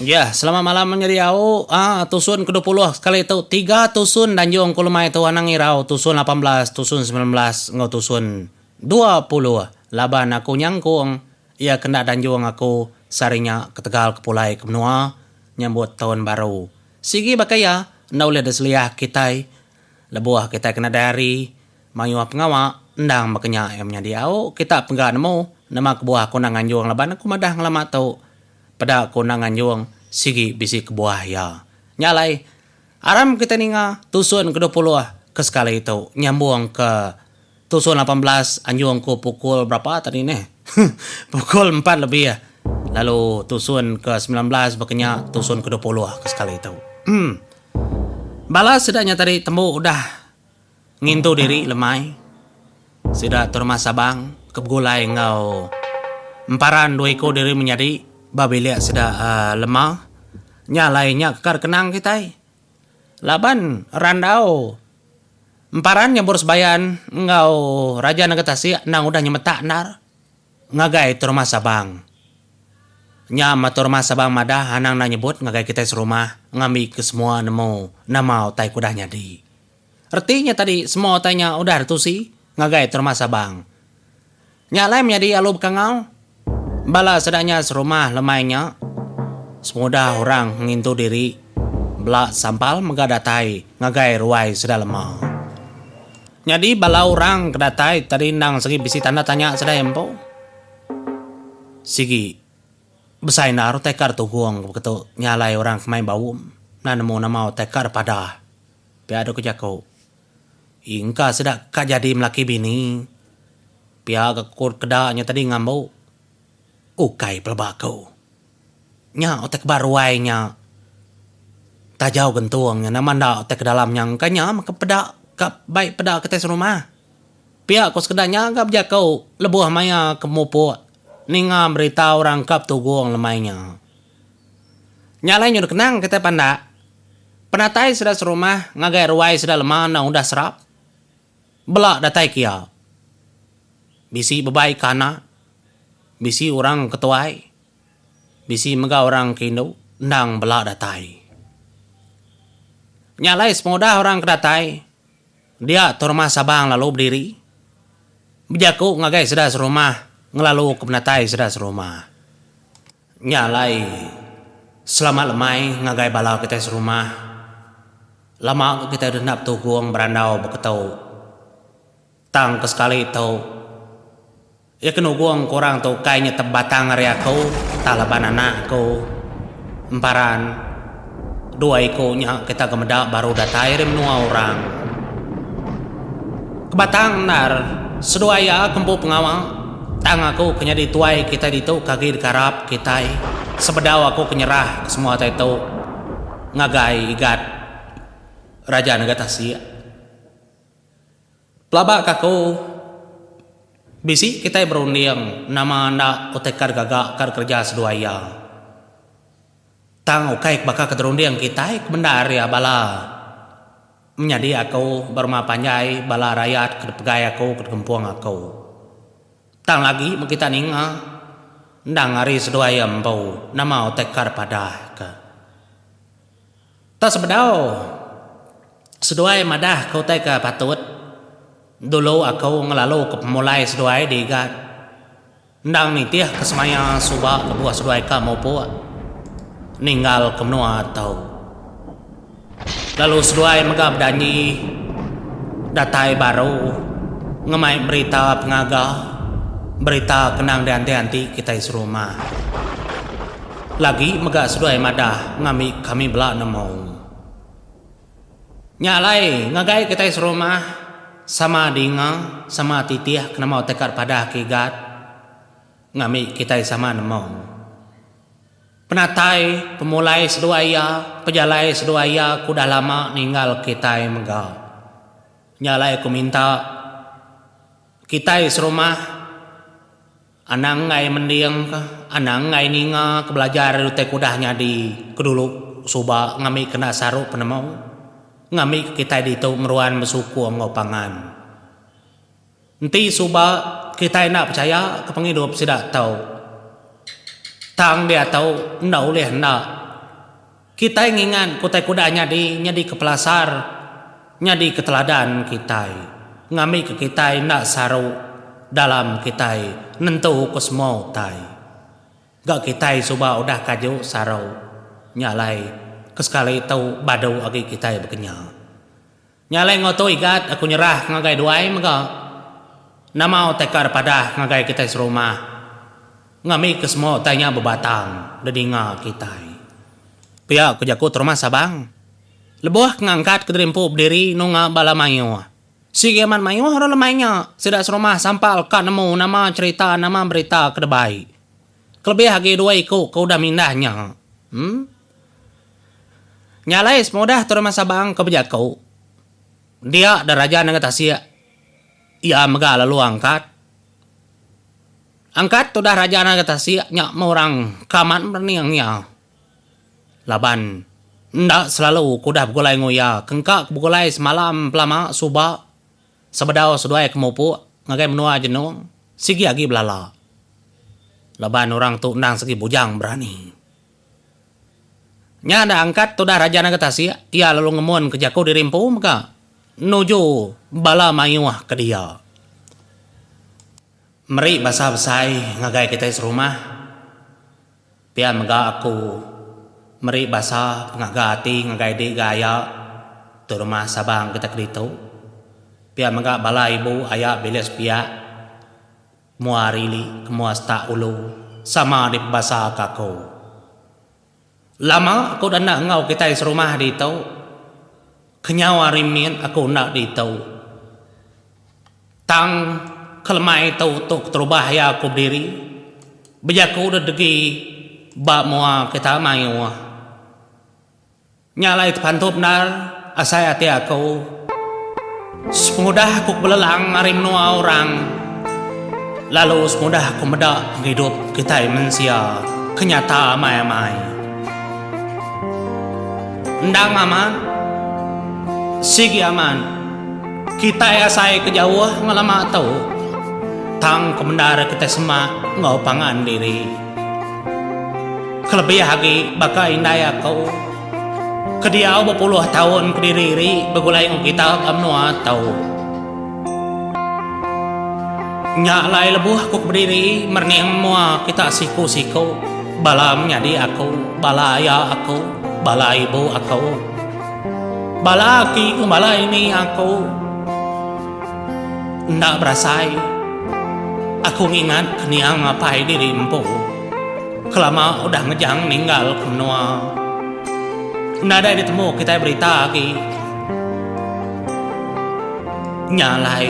Jah, selamat malam menyediau. Aa, tusun ke dua puluh sekali tu tiga tusun danjung ku lemai tu anang irau tusun lapan belas, tusun semilan belas enggau tusun dua puluh laban aku nyangkung iya ke enda danjung aku sehari nya ketegal ke pulai ke menua nyambut taun baru. Sigi baka iya enda ulih diseliah kitai lebuh kitai ke nadai hari mayuh pengawa endang baka nya iya menyediau kita pega nemu nama kebuah aku enda nganjung laban aku madah ngelama tu Peda ku Endang Anjung sigi bisi kebuah iya. Nya alai, aram kitai ninga tusun kedua puluh ke sekali tu nyambung ke tusun lapan belas anjung ku pukul berapa tadi neh? pukul empat lebih lalu tusun ke semilan belas baka nya tusun kedua puluh ke sekali tu. Em. Bala sida nya tadi tembu udah. Ngintu diri lemai, sida Terma Sabang ke begulai enggau emparan dua iku diri menyadi ba bilik sida Lema nya alai nya ke kada kenang kitai laban randau emparan nyebur sebayan enggau Raja Nanga Tasik endang udah nyemetak endar ngagai Terma Sabang. Nya Terma Sabang madah anang enda nyebut ngagai kitai serumah ngambi ke semua nemu nama utai ke udah nyadi. Reti nya tadi semua utai nya udah ditusi ngagai Terma Sabang. Nya alai menyadi alu bekangau. Bala seda nya serumah lemai nya semudah orang ngintu diri bela sampal mega datai ngagai ruai sida lema. Nyadi bala orang ke datai tadi endang sigi bisi tanda tanya sedai empu. Sigi besai endar utai ka ditugung beketu nya alai orang ke mai baum enda nemu nama utai ka dipadah. Pia deka jaku. Ii engka sida ka jadi melaki bini. Pia ga kut keda nya tadi ngambu. Ukai peleba aku. Nya utai ke ba ruai nya. Tajau gentung nya nama enda utai ke dalam nya engka nya maka peda ka bai peda kitai serumah. Pia ko sekeda nya ga bejaku lebuh maya ke mupuk ninga berita orang ka betugong lemai nya. Nya alai nyau dikenang kitai pandak. Penatai sida serumah ngagai ruai sida lema enda udah serap. Bela datai ke iya. Bisi bebai ke anak, bisi orang ke tuai, bisi mega orang ke indu endang bela datai. Nya alai sepengudah orang ke datai dia tu rumah Sabang lalu bediri bejaku ngagai sida serumah ngelaluka penatai sida serumah. Nya alai, selamat lemai ngagai bala kitai serumah. Lama ga kitai denda betugong berandau beketu. Tang ke sekali tu, iya ke nugong ke orang tu ukai nya tebatang ari aku entah laban anak aku, emparan. Dua iku nya kita ke meda baru datai ari menua orang. Ke batang endar, seduai iya ke empu pengawa, tang aku ke nyadi tuai kitai ditu ke agi dikarap kitai sebedau aku ke nyerah ke semua utai tu ngagai Igat Raja Nega Tasik. Pelaba ke aku, bisi kitai berunding nama enda utai kad gaga kad kereja seduai iya. Tang ukai ke baka keterunding kitai ke menda ari iya bala menyadi aku berumah panjai bala rayat ke dipegai aku ke dikempung aku. Tang lagi meh kita ninga endang ari seduai iya empu nama utai ka dipadah ke. Tang sebedau seduai madah ke utai ke patut dulu aku ngelalu ke pemulai seduai diga. Endang nitih ke semaya suba lebuh seduai ka mupuk ninggal ke menua tu. Lalu seduai mega bejanji datai baru ngemai berita pengaga, berita ke endang dianti-anti kitai serumah. Lagi mega seduai madah ngambi kami bela nemu. Nya alai, ngagai kitai serumah, sama dinga, sama titih kenemu takat padah kigat ngambi kitai sama nemu. Penatai, pemulai seduai iya, pejalai seduai iya ke udah lama ninggal kitai mega. Nya alai aku minta kitai serumah. Anang enggai mending ka, anang enggai ninga ka belajar ari utai kudah nyadi ke dulu suba ngambika enda saru penemu, ngambika kitai ditu ngeruan besukur enggau pangan. Enti suba kitai enda pechaya ka pengidup sida tu, tang diatu enda ulih enda. Kitai ngingat kutai kuda nyadi nyadi ke pelasar, nyadi ke teladan kitai, ngambika kitai enda saru dalam kitai nentuka semua utai. Ga kitai suba udah kaju saru nya alai ke sekali tu badu agi kitai bekenyah. Nya alai enggau tu Igat aku nyerah ngagai duai mega nama utai ka da padah ngagai kitai serumah ngambi ke semua utai nya bebatang da dinga kitai. Pia ku jaku Terumah Sabang lebuh ke ngangkat kediri empu bediri nunga bala mayuh. Sigi amat mayuh orang lemai nya sida serumah sampal ka nemu nama cherita nama berita ke da baik kelebih agi dua iku ke udah mindah nya. Em. Nya alai semua udah Tuan Rumah Sabang ke bejaku, dia deraja nengah tasik iya mega lalu angkat. Angkat udah raja nengah tasik nya meh orang ke amat merening iya laban enda selalu ke udah begulai enggau iya ke engka ke begulai semalam pelama suba sebedau seduai ke mupuk ngagai menua Genong sigi agi belala laban orang tu endang segi bujang berani. Nya enda angkat tudah Raja Naga Tasik, iya lalu ngemun ke jaku diri empu mega nuju bala mayuh ke dia. Meri basa besai ngagai kitai serumah, pia mega aku meri basa pengaga ati ngagai dik ga aya tu rumah Sabang kitai ke ditu, pia mega bala ibu aya bilik sepiak. Mua rili ke mua setak ulu sama dipebasa ke aku. Lama aku dah enda enggau kitai serumah ditu. Kenyau hari mit aku enda ditu. Tang kelemai tu tu keterubah iya aku bediri bejaku dedegi ba mua kita mayuh. Nya alai tepantu bendar asai ati aku. Sepengudah aku belelang ari menua orang lalu semudah aku meda pengidup kitai mensia ke nyata amai-amai. Endang amat, sigi amat, kitai asai ke jauh ngelama tu tang ke bendar kitai semak enggau pangan diri. Kelebih agi baka indai aku ke diau bepuluh taun kediri ri begulai enggau kita ba menua tu. Nya alai lebuh aku ke bediri merening mua kita siku-siku bala menyadi aku, bala aya aku, bala ibu aku, bala aki enggau bala ini aku. Enda berasai aku ngingat ke niang apai diri empu kelama udah ngejang ninggal ke menua. Nadai ditemu kitai berita agi nya alai.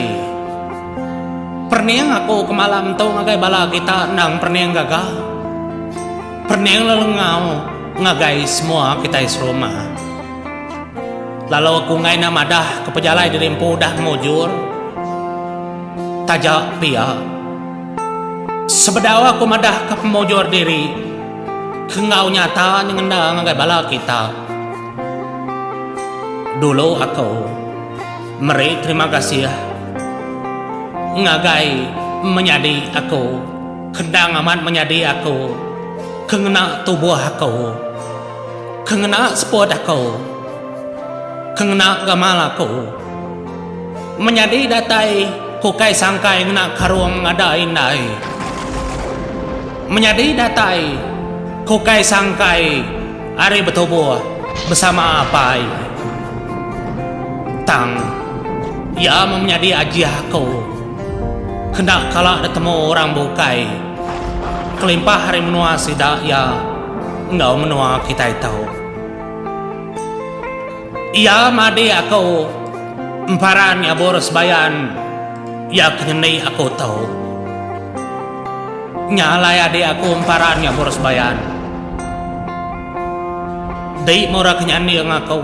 Perening aku ke malam tu ngagai bala kita endang perening gaga, perening lelengau ngagai semua kitai serumah. Lalu aku enggai enda madah ke pejalai diri empu udah mujur. Taja pia, sebedau aku madah ke pemujur diri ke enggau nyata nyengenda ngagai bala kita. Dulu aku meri terima kasih ngagai menyadi aku kendang amat menyadi aku ke ngena tubuh aku. Ke ngena seput aku. Ke ngena gamal aku. Menyadi datai ku kai sangkai ngena karung ngadai indai. Menyadi datai ku kai sangkai ari betubuh besama apai. Tang, iya meh menyadi ajih aku. Kena kala ditemu orang bukai. Kelimpah ari menua sida iya. enggau menua kitai tu. Iya madik aku emparan nyabur sebayan iya ke nyendi aku tu. Nya alai adik aku emparan nyabur sebayan. Di mura ke nyanding aku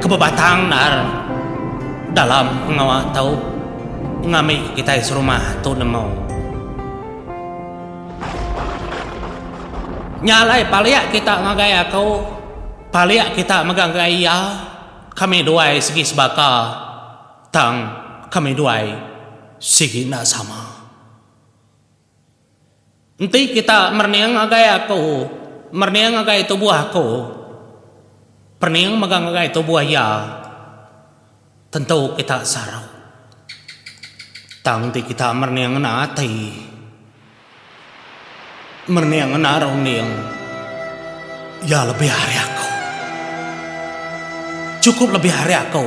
ke bebatang ndar dalam pengawa tu ngambika kitai serumah tu nemu. Nya alai palik kita ngagai aku, palik kita mega ngagai iya, kami duai sigi sebaka, tang kami duai sigi enda sama. Enti kita merening ngagai aku, merening ngagai tubuh aku, perening mega ngagai tubuh iya. Tentu kita sarau. Tang ti kita merening ngena ati. Merening ngena runding. Iya lebih ari aku. Chukup lebih ari aku.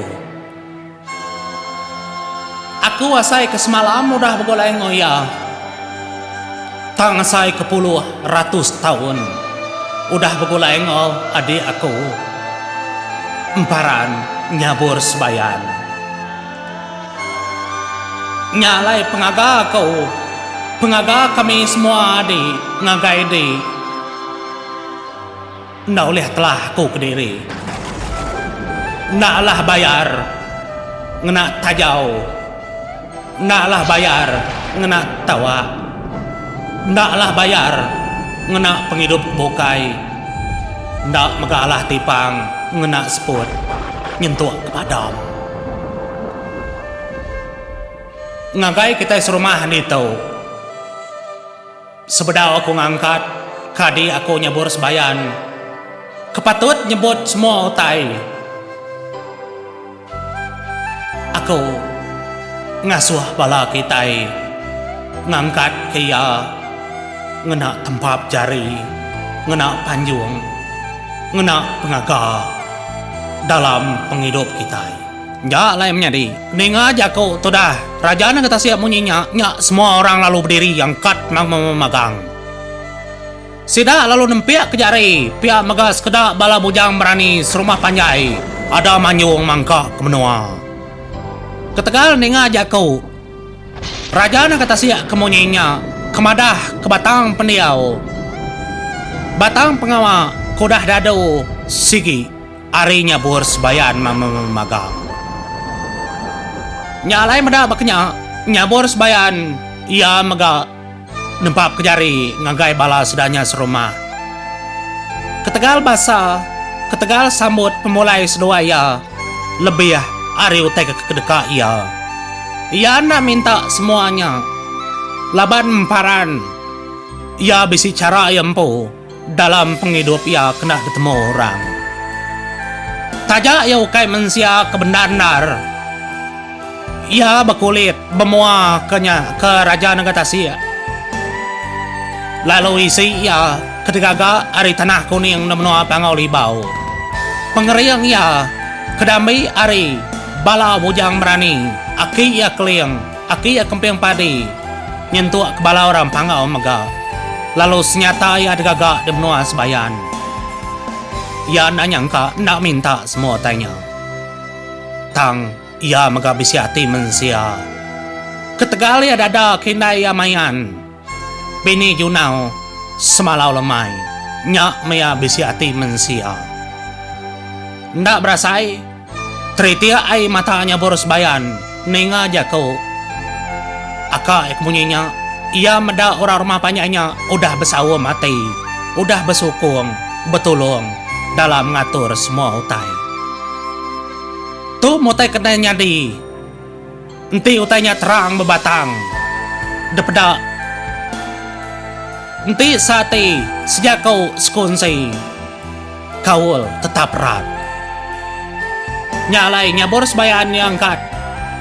Aku asai ke semalam udah begulai enggau iya. Tang asai ke puluh ratus taun udah begulai enggau adik aku emparan nyabur sebayan. Nya alai pengaga aku, pengaga kami semua adik ngagai dik. Enda ulih telah aku kediri. Enda alah bayar ngena tajau. Enda alah bayar ngena tawa. Enda alah bayar ngena pengidup ke bukai. Enda mega alah tipang ngena seput nyentuk ke padam. Ngagai kitai serumah ditu. Sebedau aku ngangkat, kadi aku nyebur sebayan ke patut nyebut semua utai aku ngasuh bala kitai ngangkat ke iya ngena tempap jari, ngena panjung, ngena pengaga dalam pengidup kitai. Nya alai menyadi. Ninga jaku tudah, Raja nang ke tasik munyi nya, nya semua orang lalu bediri angkat nang memagang. Sida lalu nempik ke jari, pia mega sekeda bala bujang berani serumah panjai ada manjung mangka ke menua. Ketegal ninga jaku Raja nang ke tasik ke munyi nya, ke madah ke batang pendiau, batang pengawa ke udah dadu sigi. Ari nya buhur sebayan memagang. Nya alai meda baka nya. Nya buhur sebayan iya mega nempapka jari ngagai bala sida nya serumah. Ketegal basa, ketegal sambut pemulai seduai iya lebih ari utai ke kedeka iya. Iya enda minta semua nya laban emparan iya bisi chara iya empu. Dalam pengidup iya kena betemu orang. Taja iya ukai mensia ke bendar-endar, iya bekulit bemua ke nya ke Raja Nengah Tasik lalu isi iya ke digaga ari tanah kuning enggau menua Pangau Libau. Pengering iya ke diambi ari bala bujang berani aki iya Keling. Aki iya kemping padi nyentuk kebala orang panggau mega lalu senyata iya digaga di menua Sebayan. Iya enda nyangka enda minta semua utai nya. Tang iya mega bisi ati mensia. Ketegal iya dada ke indai iya mayan. Bini Junau semalau lemai. Nya mia bisi ati mensia. Enda berasa ai. Teritik ai mata nya Boros Bayan ninga jaku aka iya ke munyi nya. Iya meda orang rumah panjai nya udah besaum ati, udah besukung betulung dalam ngatur semua utai. Tu mutai kena nyadi. Enti utai nya terang bebatang depeda enti seati sejaku sekunsi kaul tetap rat. Nya alai nyabur sebaya anya angkat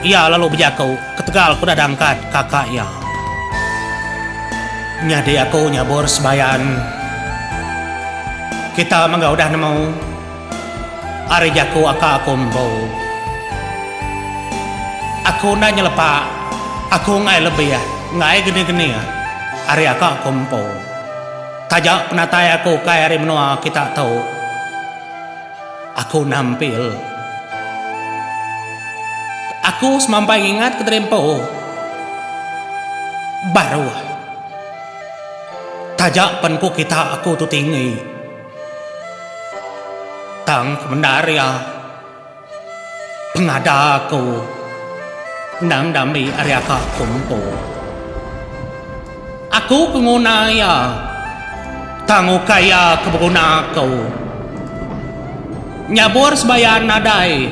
iya lalu bejaku ketegal ku dada angkat kaka iya. Nyadi aku nyabur sebaya kita mega udah nemu. Ari jaku aka aku empu. Aku enda nyelepa aku enggai lebih enggai geni-geni ari aka aku empu. Taja penatai aku ukai ari menua kita tu. Aku nampil. Aku semampai ngingat ke tadi empu. Baruh. Taja pen ku kita aku tu tinggi. Tang kebendar iya, pengada aku endang diambi ari aka aku empu. Aku ke nguna iya, tang ukai iya ke beguna aku. Nyabur sebayan nadai,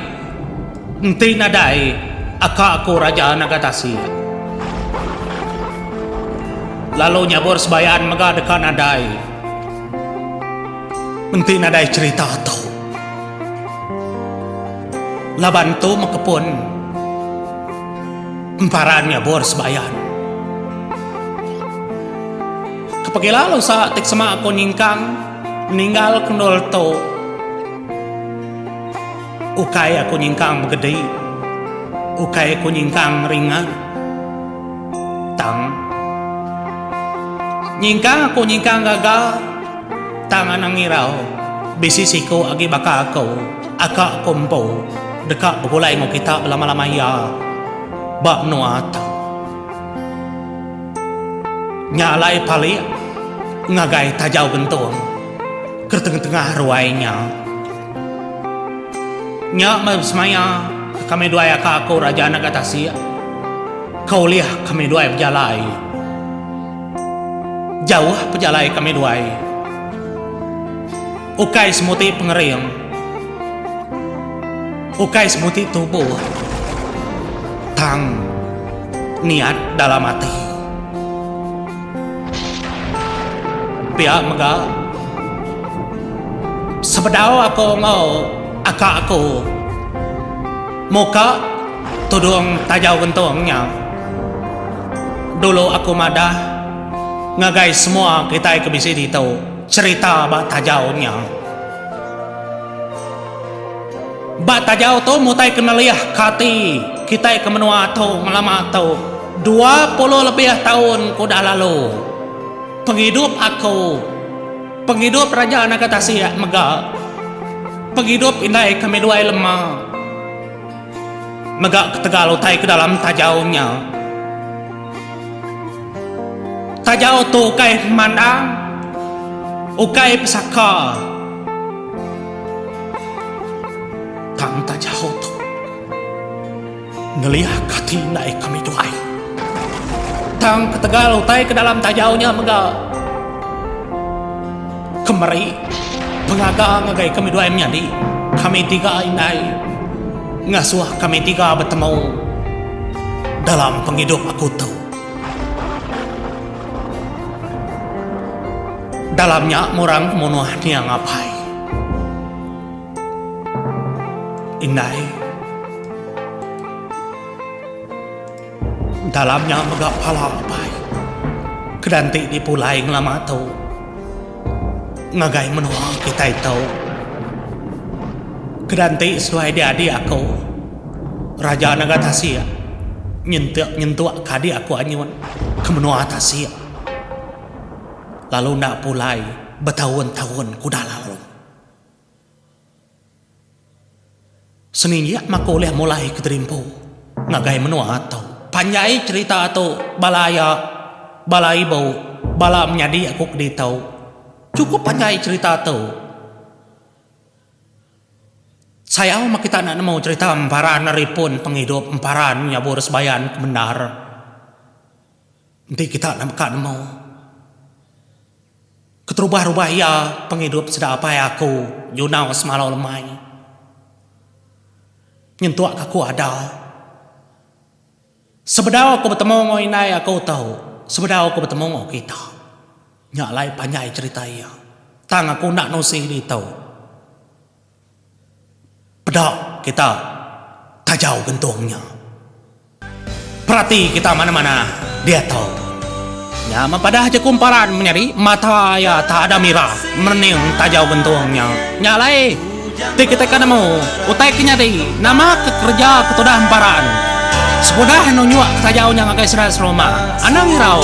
enti nadai aka aku Raja Naga Tasik. Lalu nyabur sebayan mega deka nadai. Enti nadai cerita tu. Laban tu meh kepun emparan nyabur sebayan. Kepagi lalu sa ti ke sema ku nyingkang ninggal ke endur tu. Ukai aku nyingkang begedi, ukai ku nyingkang ringan, tang nyingkang aku nyingkang gagal, tang anang ngirau bisi siku agi baka aku aka aku empu deka begulai enggau kita belama-lama iya ba menua tu. Nya alai palik ngagai Tajau Gentung ke tengah-tengah ruai nya. Nya meh semaya kami duai aka aku Raja Naga Tasik ke ulih kami duai bejalai. Jauh pejalai kami duai. Ukai semuti pengering. Ukai semuti tubuh. Tang niat dalam ati. Pia mega, sebedau aku enggau aka aku muka tudung taja gentung nya, dulu aku madah ngagai semua kitai ke bisi ditu cherita ba tajau nya. Ba tajau tu mutai ke nelih ka ati kitai ke menua tu ngelama tu. Dua puluh lebih taun ke udah lalu, pengidup aku, pengidup Raja Naga Tasik mega pengidup indai kami duai lema mega ketegal utai ke dalam tajau nya. Tajau tu ukai pemandang, ukai pesaka tang tajau tu. Ngeliak ati indai kami tu ai. Tang ketegal utai ke dalam tajau nya mega ke meri pengaga ngagai kami duai menyadi. Kami tiga indai ngasuh kami tiga betemu dalam pengidup aku tu. Dalam nya murang ke munuh niang apai. Indai. Dalam nya mega pala apai Kedanti dipulai ngelama tu ngagai menua kitai tu. Kedanti seduai diadi aku Raja Naga Tasik nyentuk nyentuk ke adik aku anyun ke menua tasik lalu enda pulai betaun-taun ke udah lalu. Seminyak maku ulih mulai ke terimpu ngagai menua tu. Panjai cherita tu bala aya, bala ibu, bala menyadi aku ke ditu. Chukup panjai cherita tu. Sayau meh kita enda nemu cherita emparan ari pun pengidup, emparan nyabur sebayan ke bendar. Enti kita enda meka nemu. Keterubah-rubah iya pengidup sida apai aku nyunau semalau lemai. Nyentuk ka aku ada. Sebedau aku betemu enggau indai aku tu, sebedau aku betemu enggau kita. Nya alai panjai cherita iya. Tang aku enda nusi ditu. Peda kita tajau gentung nya. Perati kita mana-mana diatu. Nya meh padah je ku emparan menyadi mata iya tak ada mirah merening tajau gentung nya. Nya alai ti kitai ke nemu utai ke nyadi nama ke kereja ke tudah emparan. Sekudah eno nyuak ke tajau nya ngagai sida serumah, anang irau.